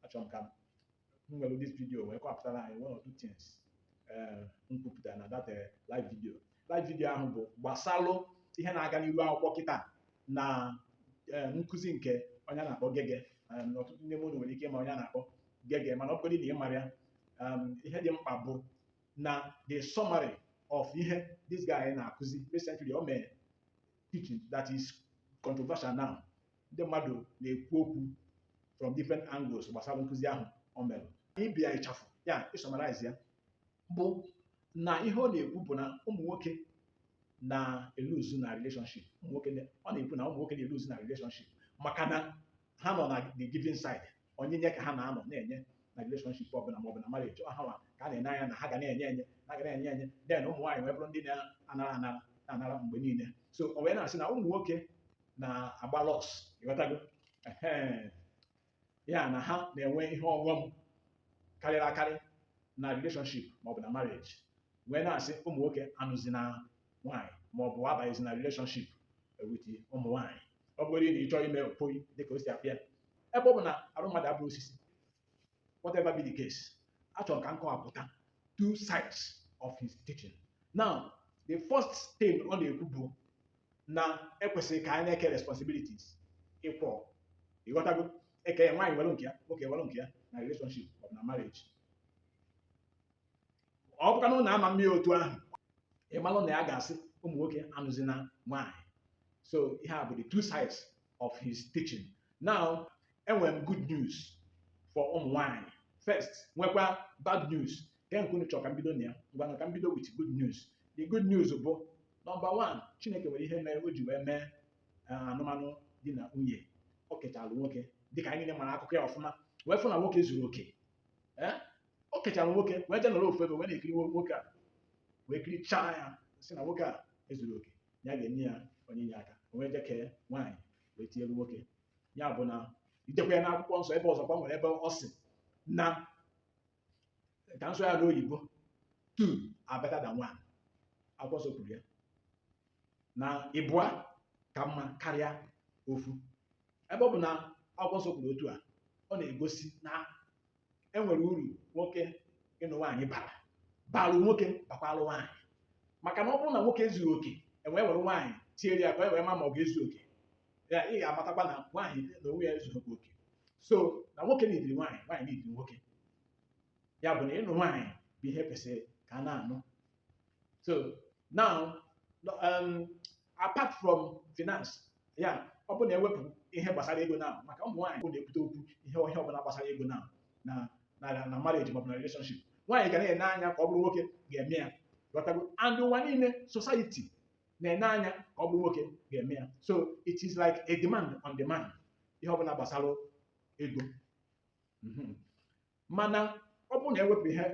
achọrọ m ka m were this video wee kọpụtara anyị one or two things eh, m kwupụtara na that eh, live video live video ahụ bụ gbasalụ ihe na-aga n'iru akwụkwọ kịta na eh, nkụzi nke onye a na-akpọ Gehgeh um, ọtụtụ ndị mmadụ nwere ike ịma onye a na-akpọ Gehgeh mana ọ bụgodị na ị marọ ya um, ihe dị mkpa bụ na the summary of ihe this guy na-akụzi recently o mee teaching that is controversial now ndị mmadụ na-ekwu okwu from different angles gbasara nkụzi ahụ o mere ị bịa ịchafụ ya ịsummarize ya bụ na ihe ọ na-ekwu bụ na ụmụ nwoke na-eluzu na relationship ụmụ nwoke na- ọ na-ekwu na ụmụ nwoke na-eluzu na relationship maka na ha nọ na the giving side onyinye ka ha na-anọ na-enye na relationship ọbụla ma ọ bụ na marriage ọ ha wa ka a na-ene anya na ha ga na-enye enye na ga na-enye enye then ụmụ nwaanyị wee bụrụ ndị na-anara anara na-anara mgbe niile so o wee na-asị na ụmụ nwoke na-agba loss ịghọtago ya na ha na-enwe ihe ọghọm karịrị akarị na relationship ma ọ bụ na marriage wee na-asị ụmụ nwoke anụzina nwaanyị ma ọ bụ abanyezina relationship with ụmụ nwaanyị ọ bụrụ na ị chọọ ime mpoyi dịka o si apịa ebe ọ bụ na arụ mmadụ abụrọ osisi whatever be the case achọrọ ka m kọwapụta two sides of his teaching now the first thing ọ na-ekwu bụ na ekwesịrị ka anyị na-eke responsibilities equal ịghọtago e kee nwaanyị were nke ya nwoke were nke ya na relationship ọ bụ na marriage ọ bụkwa na ụnụ ama emeli otu ahụ ị malụ na ya ga-asị ụmụ nwoke anụzina nwaanyị so ihe a bụ the two sides of his teaching now enwere m good news for ụmụ nwaanyị first nwekwa bad news kee nke unu chọrọ ka m bido na ya ngwanụ ka m bido with good news the good news bụ number one chineke nwere ihe mere o ji wee mee eh, anụmanụ di na nwunye o kechara nwoke dịka anyị niile mara akụkọ ya ọfụma wee fụ na nwoke ezurọ oke Eh? o kechara nwoke wee jee nọrọ ofu ebe wee na-ekiri nwo- nwoke a wee kirichaa ya sị na nwoke a ezurọ oke ya ga-enye ya onye inye aka o wee jee kee nwaanyị wee tinyere nwoke ya bụ na idekwa ya n'akwụkwọ nsọ ebe ọzọ ka e nwere ebe ọ sị na ka m sụọ ya n'oyibo two are better than one akwụkwọ nsọ kwuru ya na ịbụa ka mma karịa ofu ebe ọ bụ na akwụkwọ nsọ kwuru otu a ọ na-egosi na e nwere uru nwoke ịnụ nwaanyị bara balụ nwoke bakwalụ nwaanyị maka na ọ bụrụ na nwoke ezughị oke e wee were nwaanyị tiere ya ka e wee ma ma ọ ga-ezu oke ya ị ga-amatakwa na nwaanyị n'onwe ya ezughị oke so na nwoke needịrị nwaanyị nwaanyị needịrị nwoke ya bụ na ịnụ nwaanyị bụ ihe kwesịrị ka a na-anụ so now um, apart from finance ya ọ bụ na ewepụ ihe gbasara ego na maka ụmụ nwaanyị bụ na-ebute okwu ihe ọbụla gbasara ego na na na na marriage maọbụ na relationship nwaanyị ga na-ene anya ka ọ bụrụ nwoke ga-eme ya ghọtago and ụwa niile society na-ene anya ka ọ bụrụ nwoke ga-eme ya so it is like a demand on the man ihe ọbụla gbasara ego Mhm. mana ọ bụrụ na ewepụ ihe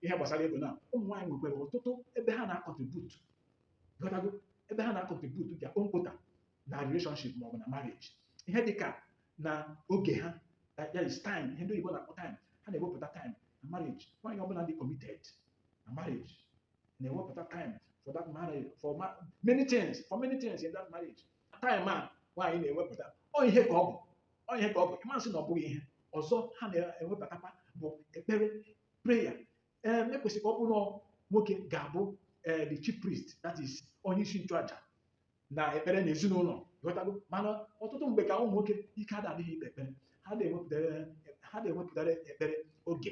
ihe gbasara ego na ụmụ nwaanyị nwekwara ọtụtụ ebe ha na-akọntribut ghọtago ebe ha na-akọntribut bịa kpomkpota na relationship maọbụ na marriage ihe dịka na oge ha that is their time ihe ndị oyibo na-akpọ time ha na-ewepụta time na marriage nwaanyị ọbụla dị committed na marriage na-ewepụta time for that marriage for ma many things for many things in that marriage time a nwaanyị na-ewepụta ọ ihe ka ọ bụ ọ ihe ka ọ bụ ị ma sị na ọ bụghị ihe ọzọ ha na-ewepụtakwa bụ ekpere prayer ee na-ekwesị ka ọ bụrụ nwoke ga-abụ ee the chief priest that is onye isi nchụaja na ekpere na ezinụlọ ghọtago mana ọtụtụ mgbe ka ụmụ nwoke ike adadịghị ikpe ekpere ha adịghị ewepụtara ekpere oge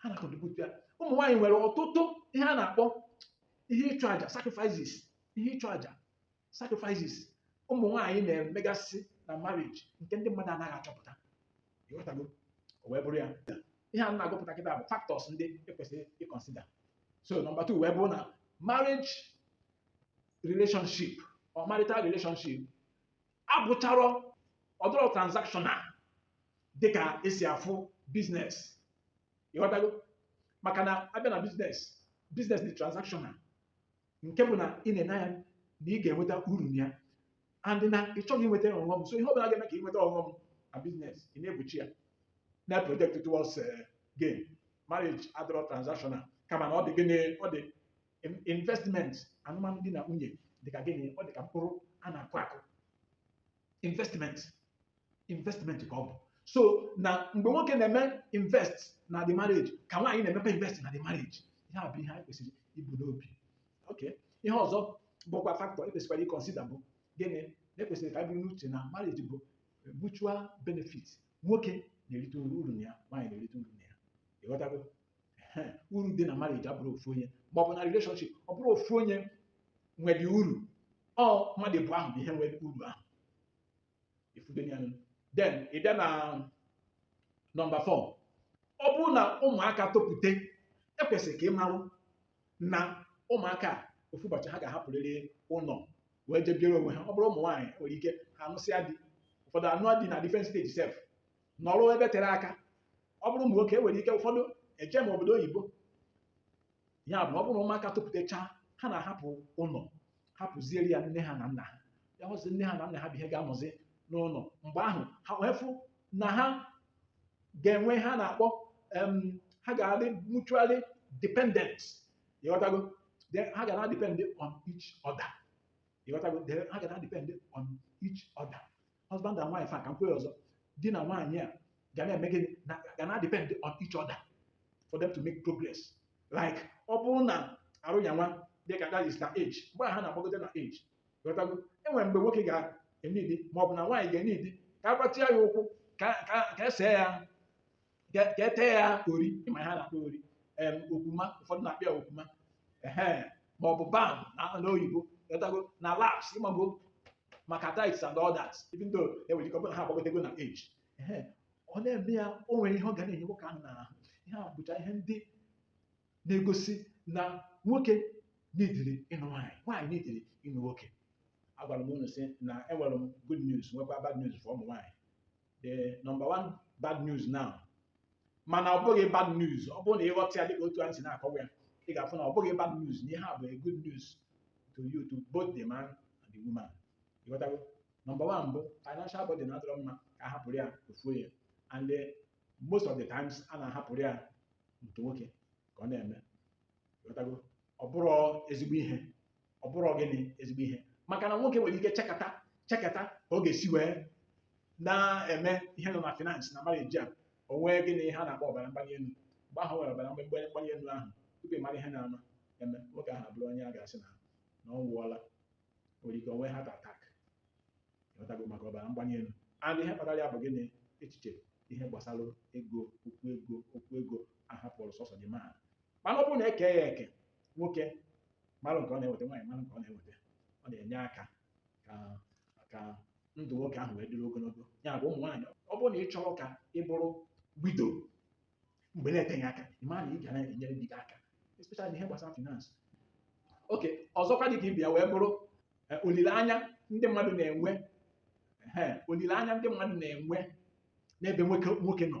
ha na-akọdịpụta ya ụmụ nwaanyị nwere ọtụtụ ihe a na-akpọ ihe ịchụ àjà sacrifices ihe ịchụ àjà sacrifices ụmụ nwaanyị na-emegasị na marriage nke ndị mmadụ anaghị achọpụta ịghọtago o wee bụrụ ya ihe a na-agụpụta kịta bụ factors ndị ekwesịrị ịkọnsida so nọmba 2 wee bụrụ na marriage relationship or marital relationship abụcharọ ọ dịrọ transactional dịka esi afụ business ịghọtago maka na abịa na business business dị transactional nke bụ na ị na-ene anya na ị ga-enweta uru na ya and na ị chọghị inweta ọghọm so ihe ọ bụla ga-eme ka ị nweta ọghọm na business ị na-egbochi ya na project towards eh, gain marriage adịrọ transactional kama na ọ dị gịnị ọ dị in- investment anụm di na nwunye dị ka gịnị ọ dị ka mkpụrụ a na-akụ akụ investment investment ka ọ bụ so na mgbe nwoke na-eme invest na the marriage ka nwaanyị na-emekwa invest na the marriage ihe a bụ ihe anyị kwesịrị ibu n'obi okay ihe ọzọ bụkwa factor ekwesịkwara ịkọnsida bụ gịnị na-ekwesịrị ka e buru n'uche na marriage bụ mutual benefit nwoke na-erite uru na ya nwaanyị na-erite uru na ya ịghọtago uru dị na marriage abụrọ ofu onye ma ọ bụ na relationship ọ bụrọ ofu onye nwere uru ọ mmadụ abụọ ahụ bụ ihe nwe uru ahụ ị fụgo ya then ị bịa na nọmba 4 ọ bụrụ na ụmụaka topụte ekwesịrị ka ị marụ na ụmụaka ofu ụbọchị ha ga-ahapụrịrị ụnọ wee jebiere onwe ha ọ bụrụ ụmụ nwaanyị nwere ike ha anụsịa di ụfọdụ anụa di na different state sef nọrọ ebe tere aka ọ bụrụ ụmụ nwoke e nwere ike ụfọdụ ejema obodo oyibo ya bụ ọ bụrụ na ụmụaka topụtachaa ha na-ahapụ ụnọ hapụziere ya nne ha na nna ha ya hụzi nne ha na nna ha bụ ihe ga-anọzi n'ụnọ mgbe ahụ ha wee fụ na ha ga-enwe ihe a na-akpọ em, ha ga-adị mutually dependent ịghọtago Then ha ga na-depend on each other ịghọtago Then ha ga na-depend on each other husband and wife a ka m kwuo ya ọzọ di na nwaanyị a ga na-eme gịnị ha ga na-depend on each other for them to make progress like ọ bụrụ na arụ ya nwa dị ka that is na age mgbe a ha na-agbagote na age ịghọtago enwere mgbe nwoke ga-enidi ma ọ bụ na nwaanyị ga-enidi ka a gbatịa ya ụkwụ ka ka ka e see ya ka ka e tee ya ori ị ma ihe a na-akpọ ori em okwuma ụfọdụ na-akpọ ya okwuma ehe ma ọ bụ balm n'oyibo ịghọtago na laps ịmago maka thighs and all that even though enwere ike ọ bụrụ na ha agbagotego na age ehe ọ na-eme ya o nwere ihe ọ ga na-enye nwoke ahụ n'ahụ ihe a bụcha ihe ndị na-egosi na nwoke nidiri ịnụ nwaanyị nwaanyị nidiri ịnụ nwoke agwara m unu sị na enwere m good news nwekwa bad news for ụmụ nwaanyị the number one bad news now mana ọ bụghị bad news ọ bụrụ na ị ghọta ya dịka otu anyị si na-akọwa ya ị ga-afụ na ọ bụghị bad news na ihe a bụ a good news to you to both the man and the woman ịghọtago number one bụ financial burden adịrọ mma ka a hapụrụ ya ofu onye and the, most of the times a na-ahapụrụ ya nke nwoke ka ọ na-eme ịghọtago ọ bụrọ ezigbo ihe ọ bụrọ gịnị ezigbo ihe maka na nwoke nwere ike chekata chekata ka ọ ga-esi wee na-eme ihe nọ na finance na marriage a o nwee gịnị ha na-akpọ ọbara mgbali elu mgbe ahụ nwere ọbara mgbali mgbali elu ahụ tupu ị mara ihe na-eme eme nwoke ahụ abụrụ onye a ga-asị na na ọ nwụọla nwere ike o nwee heart attack ịghọtago maka ọbara mgbali elu and ihe kpatara ya bụ gịnị echiche ihe gbasara ego okwu ego okwu ego a hapụrụ sọsọ di ma mana ọ bụrụ na e kee ya eke nwoke mara nke ọ na-eweta nwaanyị mara nke ọ na-eweta ọ na-enye aka ka ka ndụ nwoke ahụ wee dịrị ogologo ya bụ ụmụ nwaanyị ọ bụrụ na ị chọrọ ka ị bụrụ widow mgbe na-eteghị aka ị mara na ị ga na-enyere di gị aka especially n'ihe gbasara finance okay ọzọkwa dị ka ibe ya wee bụrụ eh, olileanya ndị mmadụ na-enwe ehe, olileanya ndị mmadụ na-enwe n'ebe nwoke nwoke nọ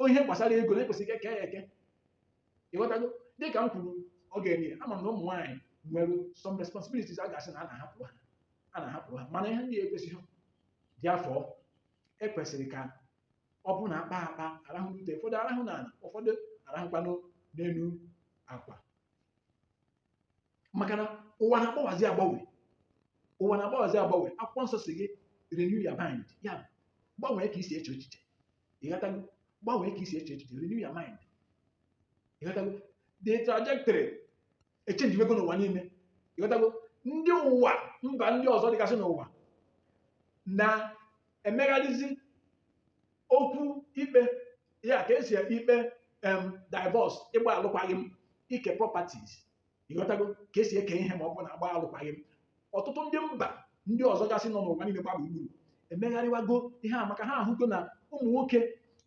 O ihe gbasara ego na-ekwesịghị ka eke ya eke ịghọtago dịka m kwuru oge eri ama m na ụmụ nwaanyị nwere some responsibilities a ga-asị na a na-ahapụ ha a na-ahapụrụ ha mana ihe ndị a ekwesịghị dị afọ ekwesịrị ka ọ bụ na akpa akpa arahụ n'ute ụfọdụ arahụ n'ala ụfọdụ arahụkwanụ n'elu akwa maka na ụwa na-agbanwezi agbanwe ụwa na-agbanwezi agbanwe akwụkwọ nsọ sị gị renew your mind ya gbanwee ka i si eche echiche ịghọtago gbanwee ka i si eche echiche renew your mind ịghọtago the trajectory echenjiwego n'ụwa niile ịghọtago ndị ụwa mba ndị ọzọ dịgasị n'ụwa na-emegharịzi okwu ikpe ya ka esi ekpe ikpe em divorce ịgba alụkwaghị m ike properties ịghọtago ka esi eke ihe ma ọ bụ na agba alụkwaghị m ọtụtụ ndị mba ndị ọzọ gasị nọ n'ụwa niile gba gburugburu emegharịwago ihe a maka ha ahụgo na ụmụ nwoke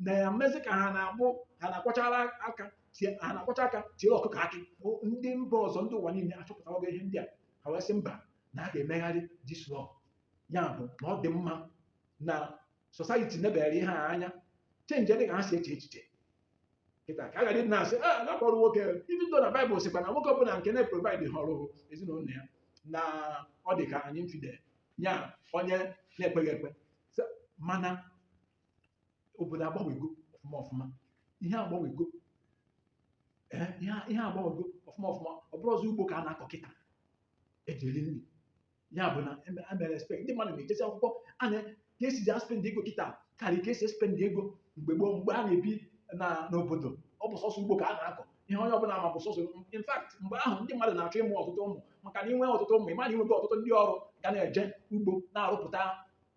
na-emezi ka ha na-abụ ha na-akwọchara aka tie ha na-akwọcha aka tie ọkụkọ akị O- ndị mba ọzọ ndị ụwa niile achọpụtawago ihe ndị a ha wee sị mba na a ga-emegharị this law ya bụ na ọ dị mma na society nebere ihe a anya chenji dị ka ha si eche echiche kịta ka a ghara ịdị na-asị a na-akpọrọ nwoke even though na baịbụl sịkwa na nwoke ọbụla nke na-eprovaịdịhọrọ ezinụlọ ya na ọ dị ka an infidel ya onye na-ekweghị ekwe Sị, mana obodo agbanwego ọfụma ọfụma ihe agbanwego ee ihe ihe agbanwego ọfụma ọfụma ọ bụrọzị ugbo ka a na-akọ kịta eji eri nri ya bụ na eme- a mere spend ndị mmadụ na-ejesi akwụkwọ a na ka esi ji aspend ego kịta karịa ka esi spend ego mgbe gboo mgbe a na-ebi na n'obodo ọ bụ sọsọ ugbo ka a na-akọ ihe onye ọbụla ma bụ sọsọ in fact mgbe ahụ ndị mmadụ na-achọ ịmụ ọtụtụ ụmụ maka na inwe ọtụtụ ụmụ ịma na inwego ọtụtụ ndị ọrụ ga na-eje ugbo na-arụpụta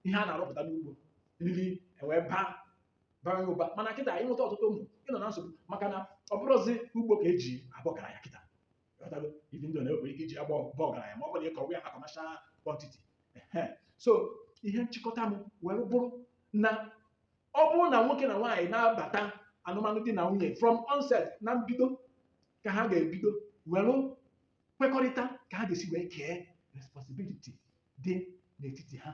ihe a na-arụpụta n'ugbo nri ewee baa bara ụba mana kịta inweta ọtụtụ ụmụ ị nọ na nsogbu maka na ọ bụrọzị ugbo ka eji aba ọgaranya kịta Ghọtago? Even though na enwere ike iji ya baa ọga- ọgaranya ma ọ bụrụ na ị kọwa ya na kọmashal kwantiti. Ehe. So ihe nchịkọta m were bụrụ na ọ bụrụ na nwoke na nwaanyị na-abata anụmanụ di na nwunye from onset na mbido ka ha ga-ebido were kwekọrịta ka ha ga-esi wee kee responsibility dị n'etiti ha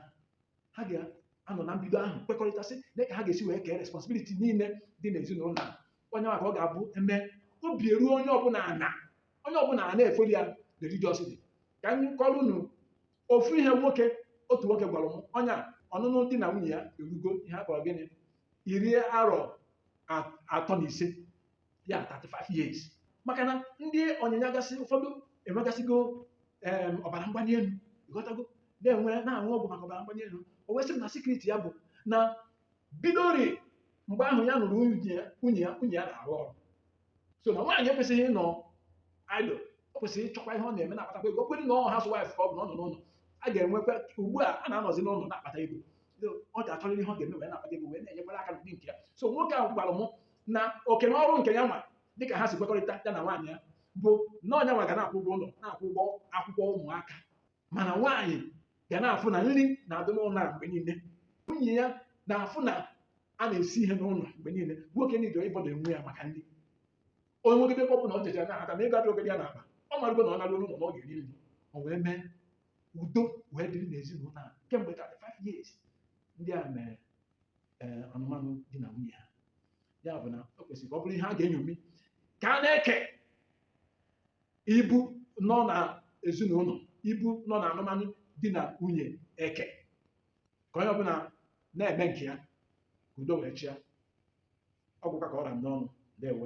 ha ga-anọ na mbido ahụ kwekọrịta sị na ka ha ga-esi wee kee responsibility niile dị n'ezinụlọ a onye maka ọ ga-abụ eme obi eruo onye ọbụla ana onye ọbụla a na-efolo ya religiously ka m kọọrọ unu ofu ihe nwoke otu nwoke gwara m ọnya ọnụnụ di na nwunye ya erugo ihe akpọrọ gịnị iri arọ a- atọ na ise ya 35 years maka na ndị ọyị ya gasị ụfọdụ enwegasịgo em, ọbara mgbali elu ịghọtago na-enwe na-aṅụ ọgwụ maka ọbara mgbali elu o wee sị m na sekriti ya bụ na bidori mgbe ahụ ya nụrụ nwunye ya nwunye ya nwunye ya na-arụ ọrụ so na nwaanyị ekwesịghị ịnọ idle ọ kwesịrị ịchọkwa ihe ọ na-eme na-akpatakwa ego ọ bụrụ na ọ housewife ka ọ bụ na ọ nọ n'ụlọ a ga-enwekwa ugbu a a na-anọzi n'ụlọ na-akpata ego So, ọ ga-achọrịrị ihe ọ ga-eme wee na-akpata ego wee na-enyekwara aka n'ụdị nke ya so nwoke ahụ gwara mụ na oke na ọrụ nke ya nwa dịka ha si kwekọrịta ya na nwaanyị ya bụ na ọ nya nwa ga na-akwụ ụgwọ ụlọ na-akwụ ụgwọ akwụkwọ ụmụaka mana nwaanyị ga na-afụ na nri na-adị n'ụlọ a mgbe niile nwunye ya na-afụ na a na-esi ihe n'ụlọ mgbe niile nwoke niile ịbother onwe ya maka nri o nwegodi ka ọ bụ na ọ jecha nata na ego adịrọgodi ya n'akpa ọ marụgo na ọ narụ ụlọ na ọ ga-eri nri o wee mee udo wee dịrị n'ezinụlọ a kemgbe 35 years ndị a mere ee anụmanụ di na nwunye ha ya bụ na o kwesịrị ka ọ bụrụ ihe a ga-enyomi ka a na-eke ibu nọ na ezinụlọ ibu nọ na anụmanụ di na nwunye e kee ka onye ọbụla na-eme nke ya ka udo wee chịa ọ gwụkwa ka ọ ra m n'ọnụ ndewo